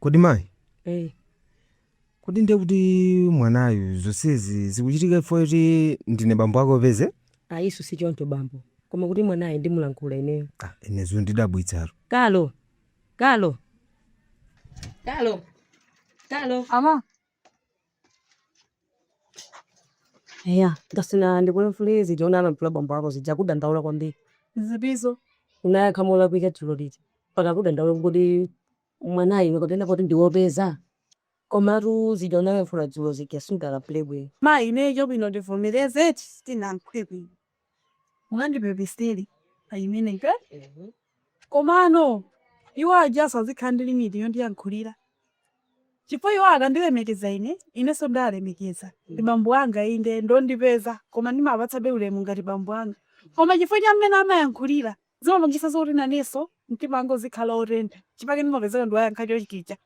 kodi mayi Eh, kodi ndiye kuti mwanayu zonsezi zikuchitika chifukwa choti ndine bambo ake opeza ayi si choncho bambo. Koma kuti mwanayo ndimulankhula ineyo. ah, ine zondidabwitsatu Kalo. Kalo. Kalo. Kalo. Ama, Eya, Kasina, ndikulankhulire zija unalankhula bambo ako zija akudandaula kwambiri. Zitizo? Unayankha molakwika dzulo lija mpaka akudandaula kuti kodi mwanayu iwe kapena poti ndi wopeza? Komatu zija unalankhula dzulo zija sudalankhule bwino. Mayi, ineyo chabwino tivomereze eti sitinalankhule bwino. Mungandipepesere pa chimenecho eti? Komano iwo ajanso azikhala ndi limiti yondiyankhulira chifukwa iwo akandilemekeza ine, inenso ndiwalemekeza. Ndi bambo anga inde, ndi ondipeza koma ndimawapatsabe ulemu ngati bambo anga. Koma chifukwa cha mmene amayankhulira zimapangitsanso kuti nanenso mtima wanga uzikhala wotentha n'chifukwa ndimapezeka ndikuwayankha chonchija.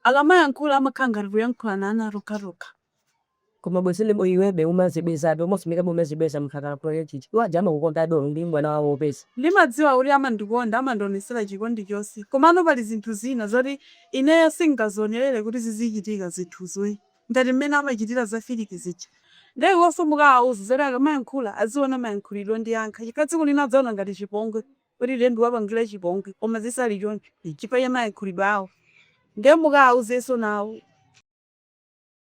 Akamayankhula amakhala ngati tikuyankhulana ana tokhatokha. Koma bwezi limo iwebe umazibwezabe umafunikabe umazibweza munthu akalakwila chichi iwo aja amakukondabe olo ndiwe mwana wawo opeza. Ndimadziwa kuti amandikonda amandionesela chikondi chonse komano pali zinthu zina zoti ineyo singazionelele kuti zizichitika zinthuzoyi ngati mmene amachitila za Felix zija nde iwonso mukawauze zoti akamayankhula aziona mayankhulidwe ondiyankhula chifukwa tsiku lina adzaona ngati chipongwe kuti ine ndawapangila chipongwe koma zisali choncho chifukwa cha mayankhulidwe awo nde mukawauzenso nawo.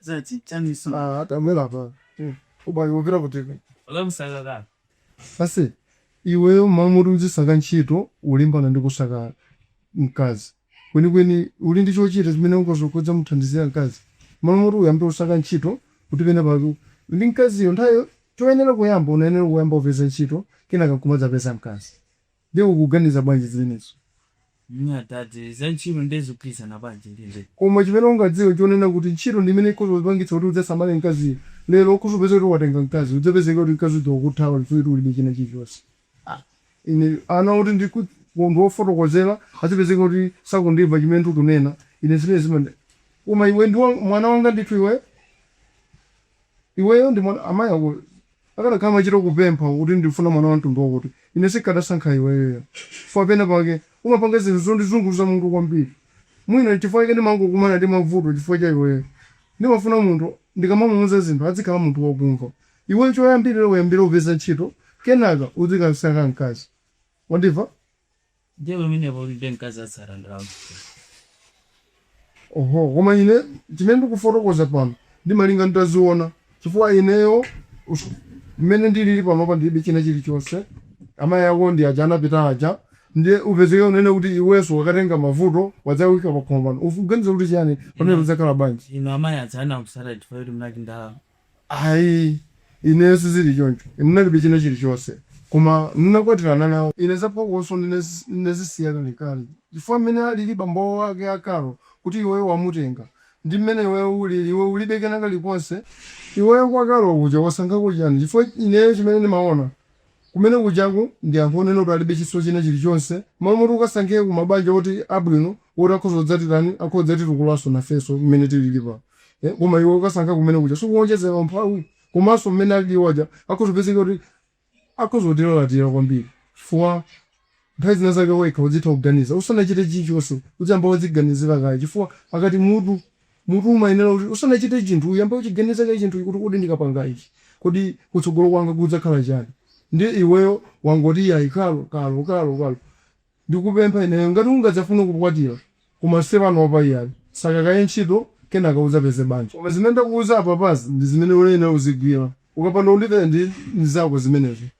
Zati, chani suna. Ah, hata mwela pa. Uba yovira kutiko. Ola musagaga. Ase, iweyo m'malo moti uzisaka ntchito ulimbana ndi kusaka mkazi kwenikweni uli ndi chochita chimene ungadzakhoze kumuthandizira mkazi m'malo moti uyambe kusaka ntchito kuti pena pake ndi mkaziyo nthayo choyenera kuyamba unayenera kuyamba kupeza ntchito kenaka nkumadzapeza mkazi Nde ukuganiza bwanji zimenezo? Mwina atati, za ntchito nde zikugwirizana bwanji ndi izi? Koma chimene ungadziwe nchonena kuti ntchito ndi imene ikhoza kupangitsa kuti udzasamale mkaziyo. Lero ukhoza kupeza kuti watenga mkazi, udzapezeke kuti mkazi uja wakuthawa chifukwa choti ulibe china chilichonse. Ah! Ine ana oti ndikut ndiwafotokozera adzipezeka kuti sakundimva chimene ndikunena, ine zimene zimand Koma iwe ndiwe mwana wanga ndithu iwe. Iweyo ndimanena, amayi ako akadakhala amachita kupempha kuti ndikufuna mwana wamtundu wakuti, ine sinkadasankha iweyo ya. Chifukwa penapake umapanga zinthu zondizunguza mutu kwambiri. Mwina n'chifukwa chake ndimangokumana ndi mavuto chifukwa cha iweyo. Ndimafuna munthu ndikamamuuza zinthu adzikhala munthu wakumva. Iweyo choyambirira uyambire kupeza ntchito kenaka uzikasankha mkazi. Wandimva? Ndiye pamenepo ulibe mkazi atsata ndalama chifukwa. Oho koma ine chimene ndikufotokoza pano ndimalinga nditaziona chifukwa ineyo mmene ndilili panopa ndilibe china chilichonse amayi ako ndi aja anapita aja ndiye upezeke unene kuti iweso wakatenga mavuto wadzaika pakhomopano ukuganiza kuti chiyani pamenepo zidzakhala bwanji? inu amayi aja anakutsatani chifukwa choti munali ndi ndalama? Ayi, ineyo sizili choncho. Ine ndinalibe china chilichonse. Koma ndinakwatirana nawo. Ine za phokoso ndinazisiya kalekale. Chifukwa mmene alili bambo ake a Carol, kuti iweyo wamutenga, ndi mmene iweyo ulili, iwe ulibe kena kalikonse. Iweyo kwa Carol kuja wasankhako chiyani? Chifukwa ineyo chimene ndimaona. Kumene kujaku ndi akunena kuti alibe chinso china chilichonse, malo moti ukasankhire ku mabanja oti abwino oti akhoza kudzatitani akhoza kudzatitukulanso nafenso mmene tilili pano eh koma iwe ukasankha kumene kuja sikuwonjezera umphawi komanso mmene alili iwo aja akhoza kupezeka kuti akhoza kutilalatira kwambiri chifukwa Nthawi zina zake wekha udzitha kuganiza usanachite chilichonse udziyamba wadziganizira kaye chifukwa akamati mutu mutu umayenera kuti usanachite chinthu uyambe uchiganiza kaye chinthuchi kuti kodi ndikapanga ichi kodi kutsogolo kwanga kudzakhala chani ndiye iweyo wangoti iyayi Carol Carol Carol Carol ndikupempha ineyo ngati ungadzafune kukwatira koma si panopa iyayi saka kaye ntchito kenaka udzapeze banja koma zimene ndakuuza apapazi ndi zimene uyenera uzigwira ukapanda kundimvera ndi ndi zako zimenezo.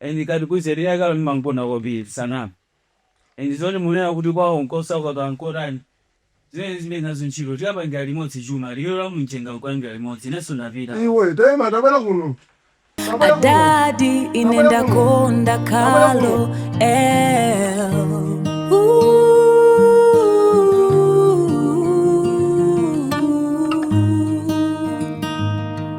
And ndikuuzeni ine Carol ndimamkonda kwambiri sanam and zoti mukunena kuti kwawo nkosauka kaya nkotani zimenezi zilibe nazo ntchito tikapangira limodzi chuma liwiro la mumchenga nkuyambira limodzi inenso ndapita. Iwe taima tabwera kuno tabwera kuno Adadi ine tabwera kuno ndakonda tabwera Carol kuno el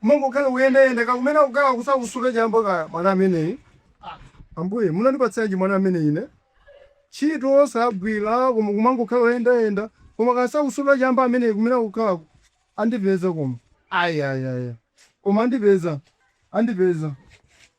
Kumangokhala kuyendayenda kaya kumene akukhala sakusuta chamba kaya mwana ameneyi Ambuye munandipatsanji mwana amene ine ntchito sagwira koma kumangokhala kuyendayenda koma kaya sakusuta chamba ameneyi kumene akukhalako andipeza koma ayayaya koma andipeza andipeza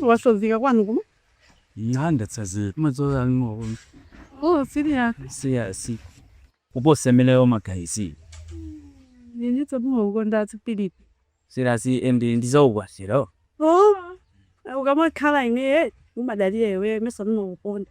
Wasimikiza kwanu kuno? Oh serious? Kuposa mmene umaganizira. Ineso ndimakukonda Philip. Serious and ndi za ukwati ro? Oh ukamakhala ineyo umadalira iweyo ineso ndimakukonda.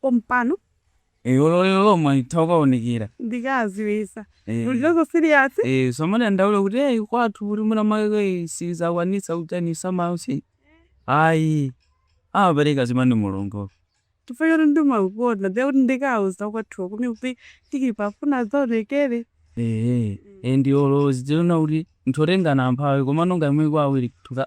pompano. Eh olo lero lomwe nditha kukaonekera. Ndikadziwitsa. Eh. Mulibenso serious? Eh usamadandaule kuti eh kwathu kuti mwina mwake sindidzakwanitsa kutani usamaope. Ayi. Amapereka zimene ndi Mulungu. Chifukwa choti ndimakukonda ndiye kuti ndikauza kwathuko kuti kuti ndikufuna ndidzaonekere. Eh. Eh ndi olo zidzioneka kuti mwatengana amphawi komano ngati mugwa awiri kutuka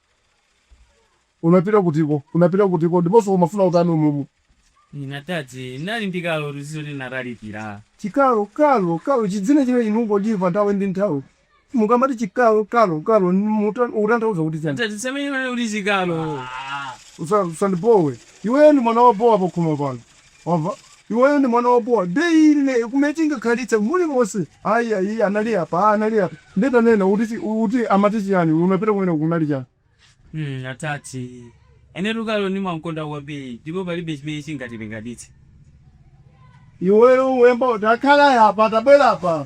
Unapita kutiko? Unapita kutiko? Ndiponso umafuna utani umumu? Ine atate, ndinali ndi Carol ruzizo linaralikira. Chi Carol, Carol, Carol, chidzina chimenechi ndikungochimva nthawi ndi nthawi. Mukamati chi Carol, Carol, Carol, mukutan, ukutanthauza kuti chani? Atate, musamanene kuti chi Carol. Usa, usandibowe. Iweyo ndi mwana wobowa pakhomo pano. Wamva? Iweyo ndi mwana wobowa nde ine kumene tingakhalitse mulimonse ayi ayi anali apa aa anali apa nde tanena uti chi uti amati chiyani uyu unapita kumeneko kunali chani? Hmm atate inetu Carol ndimamkonda kwambiri ndipo palibe chimene chingatilekanitse. Iweyo uyamba uti akhale apa tabwera apa.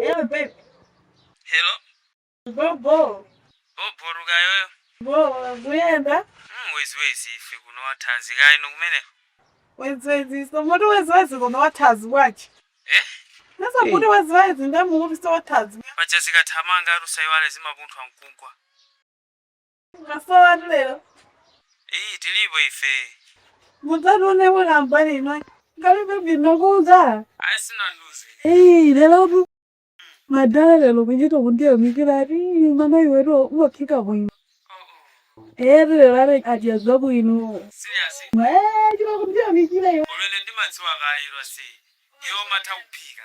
Hello babe. Hello? Go go. Oh, boruka yoyo. Go kuyenda. Mm, wezi wezi ife kuno wathanzi kayi nokumene. Wezi wezi so mutu wezi wezi kuno wathanzi wachi. Eh? Nasa hey. mutu wezi wezi ndamu mutu so wathanzi. Pacha zikathamanga arusayiwale zimapunthwa mkugwa. Mwasowatu lero? Iyi tilipo ife. Mudzatone wina mbali ino. Ngalibe bino kuza. Ayi sanandiuze. Iyi lerotu. Madala lero kuchita kundiyamikira ati mama iwetu umaphika bwino. Eti lero ari ajazwa bwino. Serious? Eee, chita kundiyamikira iwe. Already ndimadziwa kale lwasi. Iwe umatha kuphika.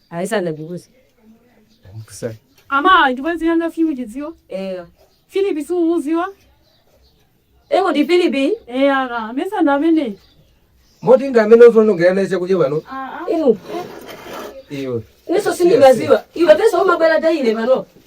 Ayi sanandiuze. Sorry. Ama ndi bwenzi langa Philip chidziwa. Eya. Philip simumuziwa? Eh kodi Philip. Eya ka. Mesa ndi amene. Moti ndi amene ukuonongera naye chakudya pano? Ah ah. Inu. Iwe. Ineso sindinkaziwa. Iwe mesa umabwera daily pano.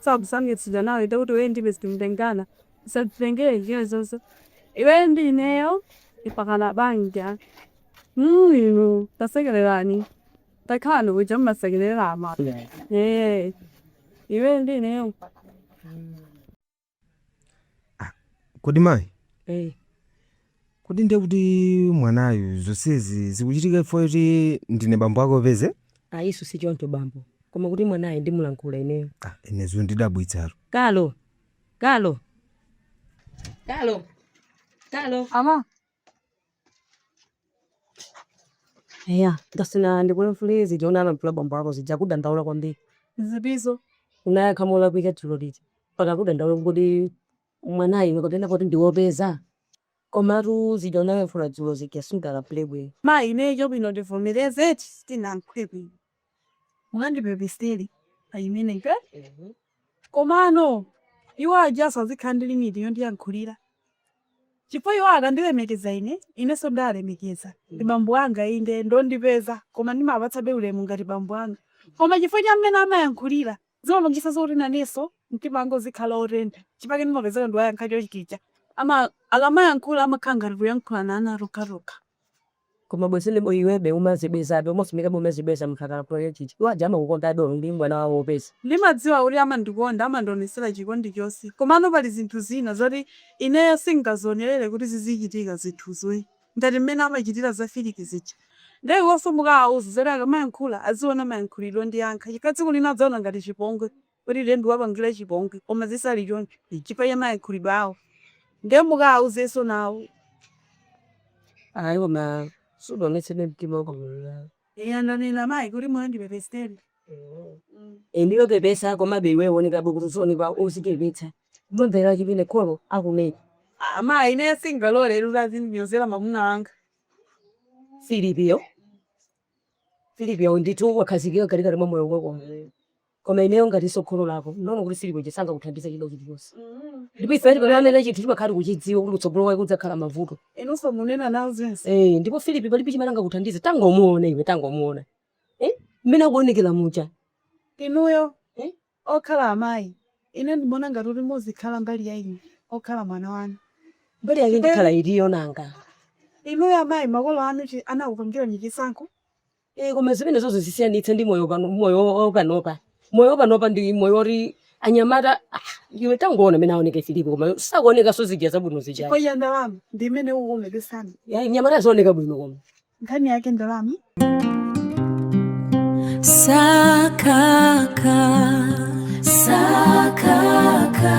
Tsa kusamutsidwa nawe te kuti iweyo ndi ine sitikutengana usatitengere njira zonse iweyo ndi ineyo mpakana banja mm inu tasekererani takhalani kuja mmasekerera ama eh iweyo ndi ineyo Kodi mayi, eh Kodi ndiye kuti mwanayu zonsezi zikuchitika chifukwa choti ndine bambo ake opeza? Ayiso sichoncho bambo, koma kuti mwanayu ndimulankhula ineyo. Ah, ine zandidabwitsatu. Carol! Carol! Carol! Carol! Ama. Eya, ndafuna ndikulankhule zija unalankhula bambo ako zija akudandaula kwambiri. Zitiso? Unayankha molakwika dzulo lija mpaka akudandaula kuti kodi. mwana iwe kapena poti ndiwopeza? Komatu zija unayankhula dzulo zija sudalankhule bwino. Mayi ineyo chabwino ndivomereze eti sindinayankhule bwino mungandipepesere pa imeneyo eti? Komano iwo ajanso azikhala ndi limit yondiyankhulira chifukwa iwo akandilemekeza ine, inenso ndiwalemekeza. Ndi bambo anga inde ndi ondipeza koma ndimawapatsabe ulemu ngati bambo anga koma chifukwa cha mmene amayankhulira Zimapangisa zoti naneso mtima wanga uzikhala otentha chifukwa chake ndimapezeka ndawayankha chonchija ama akamayankhula amakhala ngati tikuyankhulana ana tokhatokha. Koma bwezi ndi iwebe umazibwezabe umafunikabe umazibweza munthu akalankhula chonchija iwo aja amakukondabe olo ndi mwana wawo opeza. Ndimadziwa kuti amandikonda amandionesela chikondi chonse komano pali zinthu zina zoti ineyo singazionelele kuti zizichitika zinthuzo ii. ngati mmene amachitira za Filipi zija. Nde iwonso mukaawuze zoti akamayankhula aziona mayankhulidwe ondiyankha chifukwa tsiku lina adzaona ngati chipongwe kuti ine ndikuwapangira chipongwe koma zisali choncho chifukwa cha mayankhulidwe awo. Nde mukawauzenso nawo. Ayi koma sudaonetsebe mtima wabwino iyayi. Eya ndanena mayi kuti mundipepesere. Inuyo pepesa komabe iweyo uoneka bwino kuti uzioneka odzichepetsa kumamvera chimene kholo likunena. Aaa mayi ineyo singalore kuti azindinyozera mamuna wanga. Filipiyo Filipiyo ndithu wakhazikika mkatikati mwa moyo wakowo. Koma ineyo ngatinso kholo lako, ndikuona kuti Filipo sangakuthandize chida chilichonse. Ndipo ifeyo tikanena chinthu timakhala tikuchidziwa kuti kutsogolo kwake kudzakhala mavuto. Inunso munena nawo zonse. Eee ndipo Filipo palibe chimene angakuthandize, tangomuona iwe, tangomuona eh mmene akuonekera muja. Inuyo eh okhala amayi, ine ndimaona ngati kuti muzikhala mbali ya ine okhala mwana wanu. Mbali yake ndikhala itiyo nanga? Inuyo amayi makolo anu anakupangirani chisankho? Eh, koma zimenezozo zisiyanitse ndi moyo pano moyo wa- wa panopa moyo wa panopa ndi moyo woti anyamata ah, iwe tangoona amene aoneka filipo koma zakuonekanso zija zabwino zija chifukwa ya ndalama ndi imene ukukomedwa sana Ya, anyamata zooneka bwino koma nkhani yake ndalama Sakaka, sakaka,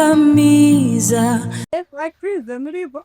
sakakamiza. Like prison mlipo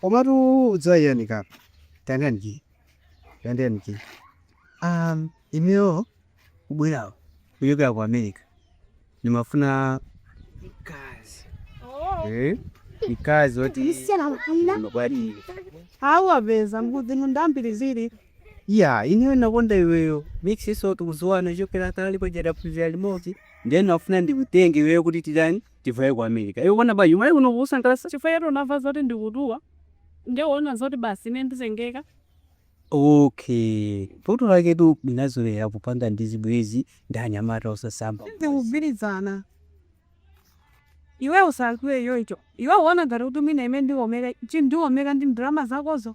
Komatu udziwa chani kapena. Tandani ki. Tandani ki. Um, ineyo kubwera kuchokera ku America. Nimafuna mkazi. Oh. Eh? Mkazi wati Msiyana mfuna. mabwadi. Hawa beza mbuzi mundambiri ziri. Ya, ineyo nakonda iweyo. Mix nso tikudziwana kuchokera kale paja taphunzira limodzi. Ndiye nafuna ndikutenge iweyo kuti titani? Tivaye ku America. Iwe ukuona bwanji? Umalawi kuno kukusangalatsa? Chifukwa choti unamva zoti ndikutchuka, ndiye waona zoti basi ine nditengeka? Okay. Vuto laketu unazolowera kupanga zibwenzi ndi anyamata osasamba. Sindikugwirizana. Iwe usalankhule choncho. Iwe ukuona ngati kuti mwina ine ndikomeka, ndikomeka ndi ndalama zakozo?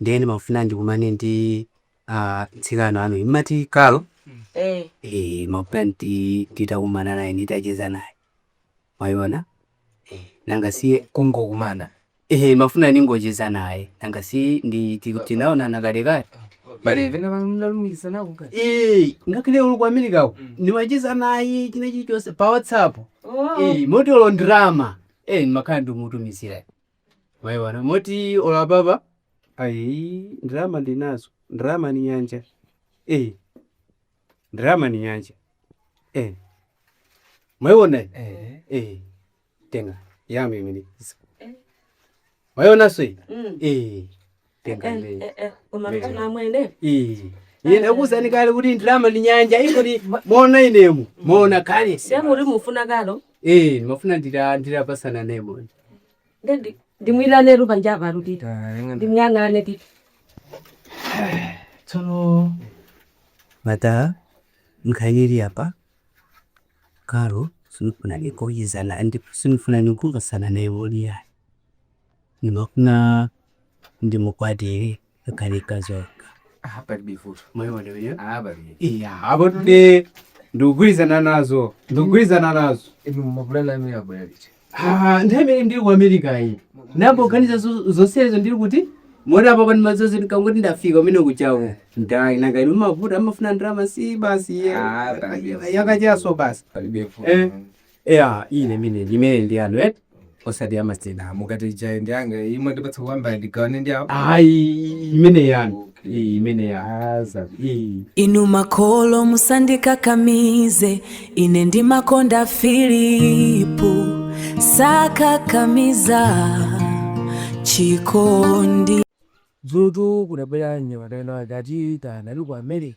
ndiye ndimafuna ndikumane ndi ah, mtsikana wanu mumati Kalo Eh. eh, mafuna ndi- nditakumana naye nditacheza naye mwayona eh, nanga siye kungokumana ehe mafuna ningocheza naye nanga si ndi ti- tinaonana kalekale pali ena anatilumikiza pakati Eh, ngakhale ndili ku america ko ndimacheza naye china chilichonse pa whatsapp Eh, moti olo ndalama Eh, ndimakhala ndikumutumizira Mayi wana moti ola baba ayi ndalama ndinazo ndalama ni nyanja eh ndalama ni nyanja eh mayi wana eh eh tenga yami mini mayi wana soi eh tenga Eh, imeyi eh, eh, koma Mera. mtima amwene iyi ine ndakuuzani kale kuti ndalama ndi nyanja ikoti mwaona ine mwaona kale siye kuti mufuna kalo ee ndimafuna ndizapatsana nayemo ndendi ndimwirane rupa njapa rutita Tayang'ana. ndimuyang'ane titi tsono mata nkhani ili apa kalo sindifuna nikayezane ndi sindifuna nikungosana naye woliyani Ndimafuna ndimukwatire akhale mkazi wanga. Ah, palibe vuto. Mwayiona imeneyo? Ah, palibe. Iya, apo today ndikugwirizana nazo. Ndikugwirizana nazo. Inu mapulani amenewa abwera liti? Ah, nthawi imene ndili ku America iyi. Ndayamba kuganiza zo- zonsezo ndili uko moti apa pano maso onse ndikangoti ndafika mmene kuchamo. Ndai nanga inu mavuto amafuna ndalama si basi ye. Ah, palibe. Yakachasu basi. Palibe vuto. Eh. Eya imeneyi imene ndi yanu eti osati ya masana mukati ijayi ndi yanga imwe ndipatsa kumbali ndigawane ndi awo ayi imene yanu iyi imene yaza iyi inu makolo musandikakamize ine ndimakonda filipu sakakamiza chikondi dzulotu kunabwera anyamata ino akati tanali ku america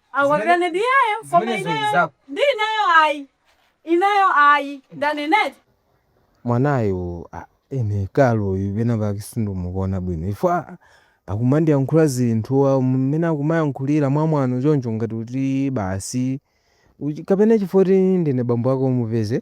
Akondwerane ndi iyeyo koma Zimenezo ndi ineyo zako. ndi ineyo ayi. Ineyo ayi. Ndaneneti. mwanayu ah, ine kalo uyu pena pake sindikumuona bwino chifukwa akumandiyankhula zinthu ah, mmene akumandiyankhulira mwamwano choncho ngati kuti basi uchi- kapena chifukwa kuti ndine bambo ako omupeza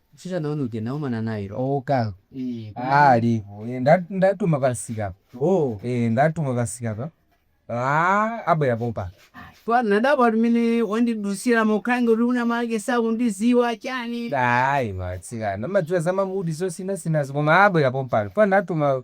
Mtsikana wanu uja ndakumana naye lero. Oh okay ee koma Aaa ndi alipo ee nda ndamtuma pa msika apa Oh. ee ndamtuma pa msika apa Aaa abwera pompano. Ayi chifukwa ndadabwa kuti mmene wandidutsiramo kukhala ngati wina make sakundidziwa chani. Ayi ma atsikana amadziwa za ma mood zosinthasinthazi koma abwera pompano chifukwa ndamtuma.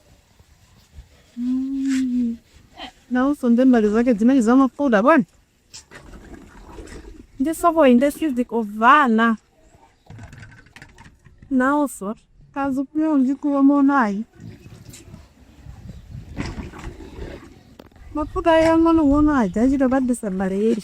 Nawonso nde mbali zake zimenezi zamafuta bwana. Nde soko inde sizikumvana. Nawonso kazi kuyo njikuwa monayi. Mafuta ang'onoang'ono aja chito pa December eri.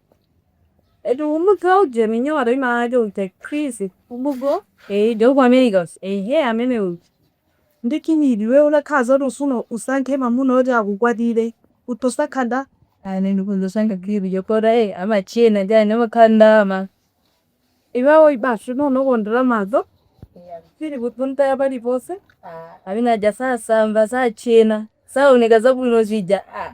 Eti umudzi wa uje minyowa to imalake uje Chris ubugo eh jo kwa Americans eh he amene uyu ndi kinidi iwe utakhala zoti ufuna usankhe mwamuna oti akukwatire utosankha ndani ndikuzosanga kibi jo kora eh amachena ndi ane amakonda ndalama iwawo basi nono kondera maso ali kutunta ya paliponse amene aja sasamba sachena saoneka zabwino zija ah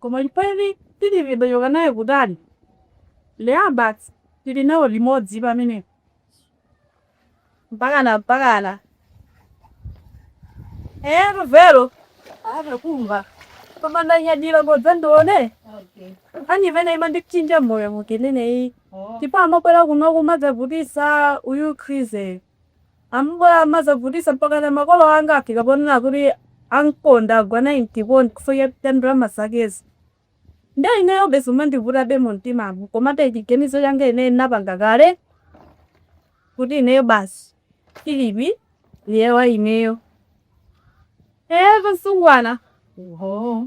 Koma Filipi tidachoka naye kutali, Leya basi tili nawo limodzi pamenepo mpakana mpakana. Eyetu vero ave kumva koma ndanyadira ndingodzandiona nkhani imene imandipsinja moyo ndikunena iyi ndipo amabwera kuno kumadzavutisa uyu krizeyo Ambuye amazavutisa mpakana makolo anga afika ponena kuti angondigwa naye mchikondi chifukwa cha ndalama zakezi. Nde ineyobe zumandivutabe mumtimamu komabe chiganizo changa ineyo ndinapanga kale kuti ineyo basi Phillip ndiye waineyo. Eeeh asungwana! Oho.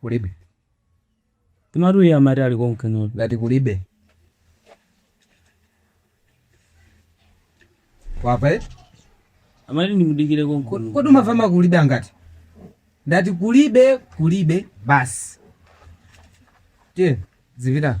Kulibe. Komatu iye amati ali konkunotu. Ndati kulibe. Wamva eh? Amati ndimudikire konkuno. Kodi umafuna ma kulibe angati? Ndati kulibe, kulibe basi. Tiye, zipita.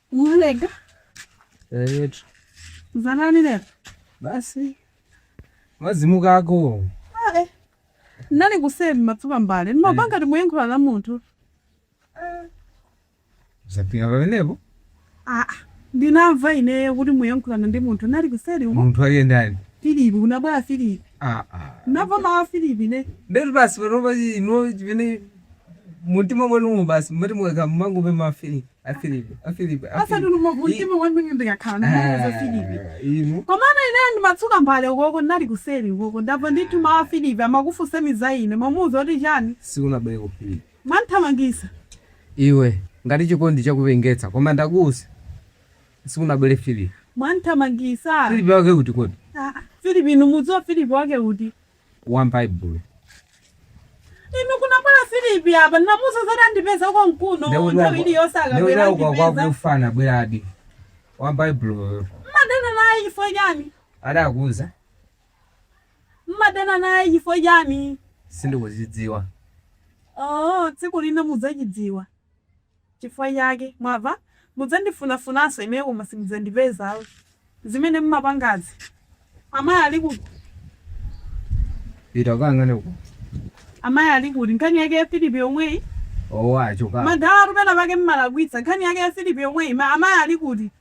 Unalega? Eh, Za ndani lero? basi mazimu akako Ah, eh. Nali kuseri ndimatsuka mbale. Mumapanga ngati muyankhula ndi munthu. zapinga pamenepo Ah, ah. ndinamva ineyo kuti muyankhulana ndi munthu nali kuseri umo munthu wake ndani filipi kunabwera filipi Ah, ah. namva mawu a filipi ne ndetu basi panopa inu chimene mumtima mwanumo basi mumati mukakhala mumangopuma afilipi afilipi afilipi osati mumtima mwanumo ndikakhala ndimafuna filipi inu komano ineyo ndimatsuka mbale ukoko ndinali kuseri ukoko ndamva ndithu mawu a filipi amakufunsani za ine mwamuuza kuti chani sikunabwere kuno filipi mwanthamangisa iwe ngati chikondi chakupengetsa koma ndakuuza sikunabwere filipi mwanthamangisa filipi wake kuti kodi Ah, filipi inu mumudziwa filipi wake uti wa m'Baibulo. Inu kunabwera Filipi apa ndinamuuza zoti adzandipeza konkuno Ndekuti nthawi wako- iliyonse ndekuti akabwera wako andipeza. kwakuti anabweradi wa m'Baibuloyo Mmadana naye chifukwa chani? adakuuza Mmadana naye chifukwa chani? sindikuchidziwa. Oh, tsiku lina mudzachidziwa. Chifukwa chake, mwamva, mudzandifunafunanso ine koma simudzandipeza ayi. Zimene mumapangazi, amayi ali kuti? Pita ukayang'ane uko. Amayi ali kuti? Nkhani yake ya Philip yomweyi? Owo, achokapo. Madalatu penapake mmalakwitsa. Nkhani yake ya Philip yomweyi? Amayi ali kuti?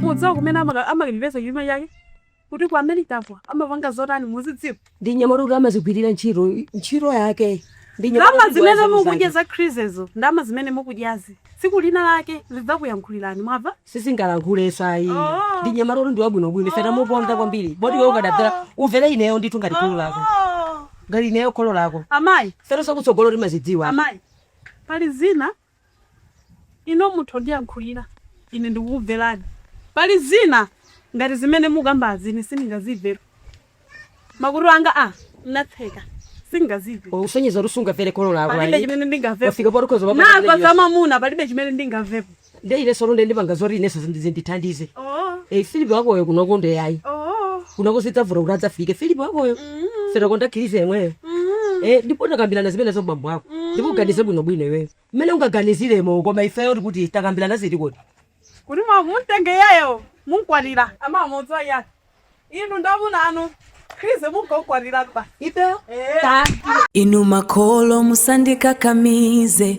mudziwa kumene amaka- amakipeza chuma chake kuti ku americako amapanga zotani muzidziwa ndi mnyamata woti amazigwirira ntchito ntchito yake ndi nyamata ndalama kuti zimene ziwazimu zake. mukudya za Khrizezo ndalama zimene mukudyazi tsiku lina lake lidzakuyankhulirani mwava sindingalankhulenso ayi Oh. ndi mnyamata woti ndiwabwinobwino ife tamuponda kwambiri kodi iwe ukadamvera umvere ineyo ndithu ngati kholo lako ngati ineyo kholo lako amayi fero zakutsogolo timazidziwa amayi pali zina Inu mutha kundiyankhulira, ine ndikukumverani. Pali zina ngati zimene mukambazi ine sindingazimve. Makutu anga anatseka sindingazimve. Ukusonyeza kuti sungamvere kholo lako ayi. Palibe chimene ndingamvepo. Wafika poti ukhoza kumapanga zimene wamva za iwe. mamuna palibe chimene ndingamvepo. Nde ineso lunde ndipanga zoti ineso zindi- zindithandize. Oh, Eh, Philip wakoyo kunoko nde ayi. oh. Kunoko sizidzatheka kuti adzafike. Philip wakoyo. Fera konda Khrize yemweyo Eh, ndipo takambirana zimene ndi bambo wako ndipo uganize bwinobwino iweyo mmene ungaganiziremo koma ifeyo tikuti takambirana zoti kodi kuti mumtenge iyeyo mumkwatire amamudziwa? iyayi inu ndi amuna anu khrize mukamkwatiretu basi ifeyo inu makolo musandikakamize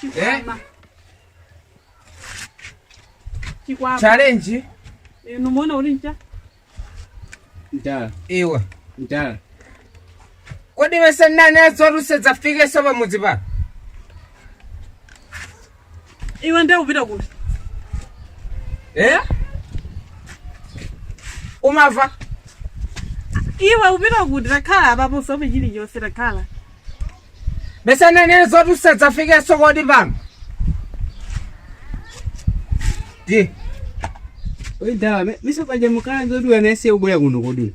chikwama chikwama challenge inu muona ulinji madala iwe madala kodi si ndinanena zoti usadzafikeso pamudzi pano Iwe ndiye upita kuti? Eh? Umava? Iwe upita kuti takhala apapo usowe chilichonse takhala. Si ndinanena zoti usadzafikeso kodi pano. Di. Oyi madala, nanga paja mukana zoti anane asabwere kuno kodi.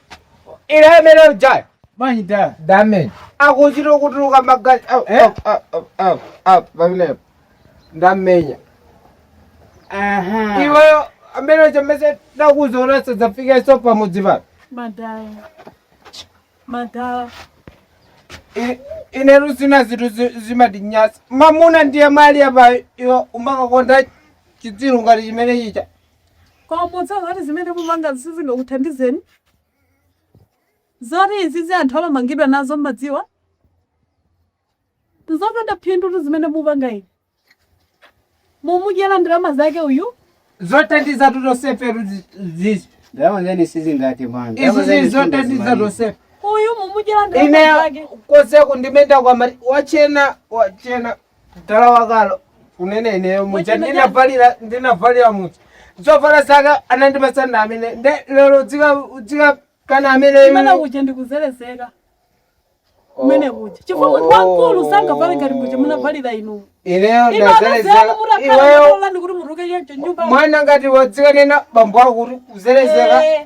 ine amene ujayo ndamenya damage akuchita kutuluka magazi Au, Eh? au, au, au, au, au, pamenepo ndamenya Aha. iweyo amene ndakuuza zoona sadzafikenso pamudzi pano Madala. Madala. I- ine nthawi zina zinthu zi- zimatinyasa mamuna ndiye uyu ali apa iwe umakakonda chitsiru ngati chimene chija Koma podziwa zoti zimene mupangazo sizingakuthandizeni, zoti izizi anthu amamangidwa nazo mmadziwa, nzopanda phindutu zimene mupanga inu. Mumudyera ndalama zake uyu. zothandizatu tonsefe izi Ndalama zeni sizingathe bwana. izi Ndalama zeni zili zothandiza sizingathe. tosefe Uyu mumudyera ndalama ineyo zake. koseku ndimayenda akumati wachena wachena mtala wa Kalo kunene ineyo muja ndinavalira ndinavalira muja zovala zake anandipatsa ndi amene ndiye lero dzika dzika kana amene imene kuja ndikuzelezeka kumene kuja chifukwa ndi wamkulu sangavale ngati muja munavalira inu ineyo ino ndazelezeka anazeka mutakhala iweyo malola ndikuti muruke yenje nyumba mwana ngati wadzikanena bambo ako kuti kuzelezeka Eh.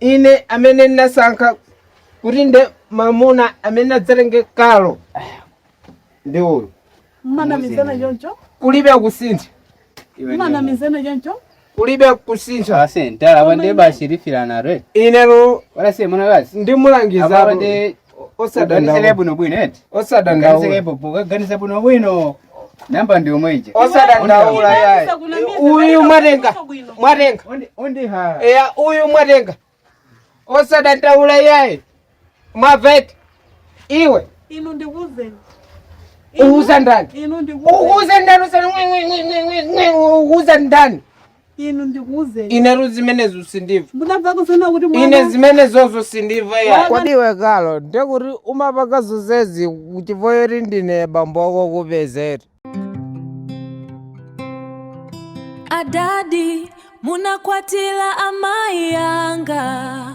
Ine amene ndinasankha kuti nde mamuna amene adzatenge Kalo ndi uyu mmanamizana choncho kulibe kusintha mmanamizana choncho kulibe kusintha Ase, ndala wande basi rifira na re. inero Wala se mwana basi. ndimulangiza Ababa ndi osadandaula bwino bwino eti osadandaula pokaganiza bwino bwino namba ndi yomwe ija osadandaula yayi uyu mwatenga mwatenga undiha eya uyu mwatenga osadandaula yayi mwavete iwe inu ndikuuzeni uwuza ndani inu ndikuuzeni uwuza ndani usana uwuza ndani Inu ndikuuzeni. Inetu zimenezo sindimva. Munamva kusona kuti mwana. Ine zimenezozo sindimva ya. Kodi iwe Kalo, ndiye kuti umapanga zonsezi chifukwa choti ndine bambo wokupeza eti? Adadi munakwatira amai anga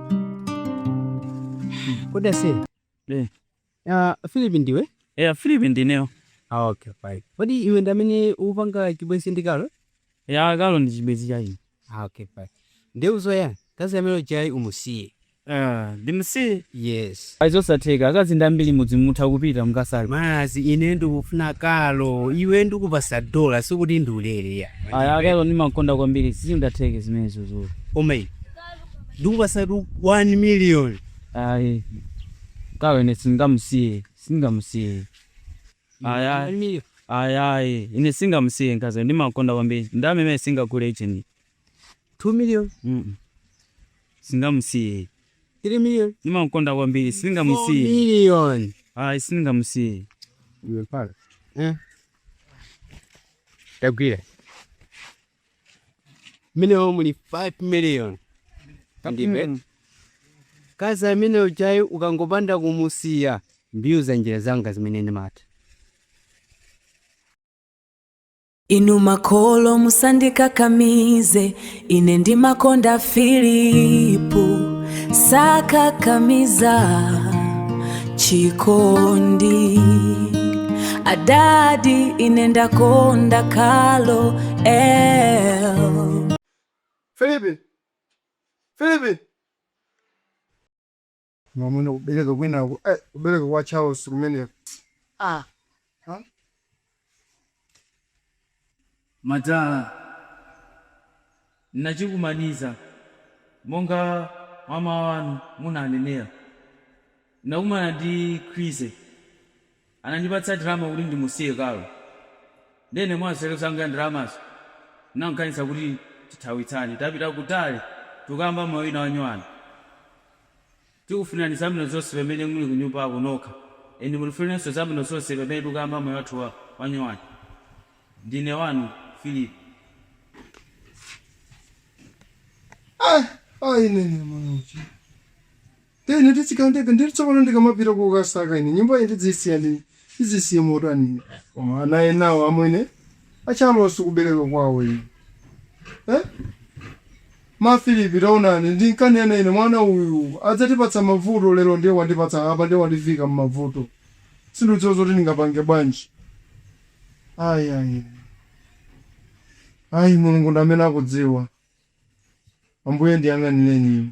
Kodi ase? Eh. Ah, Philip ndiwe? eya philip ndineyo Ah, okay, fine. Kodi iwe ndi amene upanga chibwenzi ndi Kalo? ya Kalo ndi chibwenzi cha ine Ah, okay, fine. Ndiye uziwa, mkazi amene ujayi umusiye. Ah, ndimsiye Yes. ayi zosatheka akazi ndi ambiri m'mudzi mutha kupita mukasali Mazi ine ndikufuna Kalo, iwe ndikupasa ndalama sikuti ndiulere ya. aya Kalo ndimamkonda kwambiri sizingatheke zimenezozo Omei. ndikupasatu 1 million ayi Kalo ine singamusiye singamusiye ayi ayi ayi ayi ine singamusiye mkazi ndimamkonda kwambiri ndalama imene singagule icheni 2 million Mm-mm. singamusiye 3 million ndimamkonda kwambiri 4 singamusiye million ayi singamusiye Eh. tagwira mmenemo muli 5 million ndipe mkazi amene ujayi ukangopanda kumusiya ndiuza njira zanga zimene ndimatha Inu makolo musandikakamize, ine ndimamkonda Filipo. sakakamiza chikondi adadi ine ndakonda Carol Filipi Filipi mwamuna kubereka kwina eh, kubereka kwa Charles kumeneko ah kalata ndachikwanilitsa monga mwa mawu anu munanenera. Ndinakumana ndi Chrissy, anandipatsa ndalama kuti ndimusiye Carol ndiye ine mwa nzeru zanga ndalamazo ndinamukaniza kuti tithawitsane tapita kutali tikukayamba moyo wina wanyowani. Tikufunirani zabwino zonse pamene muli kunyumbako nokha and mutifunireniso zabwino zonse pamene tikuyamba moyo wathu wanyowani. Ndine wanu Philip. Ah, ah, ine ine mwana uchi. Nde ine mtsikana ndekha ndiri tsopano ndikamapita kokasaka ine nyumba iyi ndidzisiya ndi ndizisiye motani ine koma ana enawo amwene a Charles kubereka kwawo ine eh? ma Filipi taonani ndinkanena ine mwana uyu adzatipatsa mavuto lero ndiye wandipatsa apa ndiye wandivika mmavuto sindidziwa zoti ndingapange bwanji ayi ayi ayi mulungu ndi amene akudziwa ambuye ndiyang'anireni ine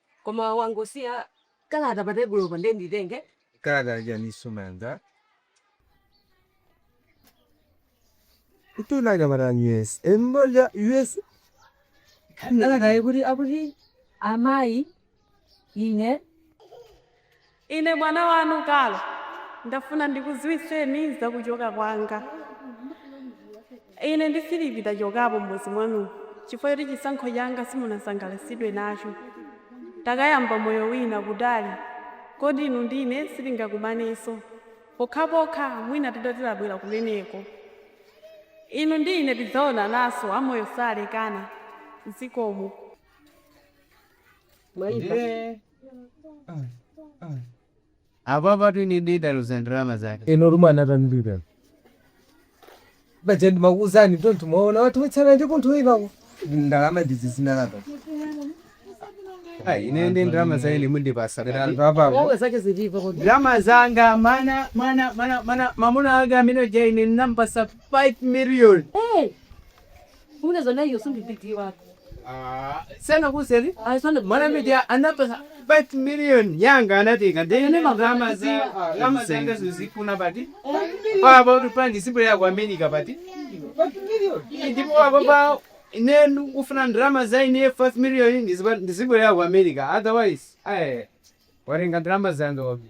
Koma wangosiya kalata pa tebulopa nde nditenge? Kalata yachiyaninso nanga? Mtunda anyamata a US. Kalatayi ikuti, akuti amayi ine. Ine mwana wanu Carol ndafuna ndikuziwitseni za kuchoka kwanga. Ine ndi Philip tachokapo m'mudzi mwanumu chifukwa choti chisankho changa simunasangalatsidwe nacho. Takayamba moyo wina kutali koti inu ndi ine sitingakumanenso pokhapokha mwina titati tabwera kumeneko. Inu ndi ine tidzaonananso, amoyo salekana. Zikomo. Ndiye Apa patu ine ndidaluza ndalama zake. ino rumwe anatanirira bajandi makuuzani tontu mwaona watiwetsa ndi kunthu ivako ndalama ndizi zinalapa Ai, ine ndi ndalama zanga ine mundipasa. anthu apako Wewe zake zilipo kodi? Ndalama zanga mana mana mana mana mamuna anga amene ja ine ndinampasa 5 million. Eh, Kumene zona hiyo sio bidii wako. sana kuseri Ah, sio ndio. mwana media anapasa 5 million yanga anatenga Nene ndene magama magama za ziwa. gama zanga zizikuna pati pabo tupandi sipo ya kwa America pati ndipo wako pa nenu ufuna drama za ine 5 million ndizipo ya kwa America otherwise eh warenga drama zanga wapi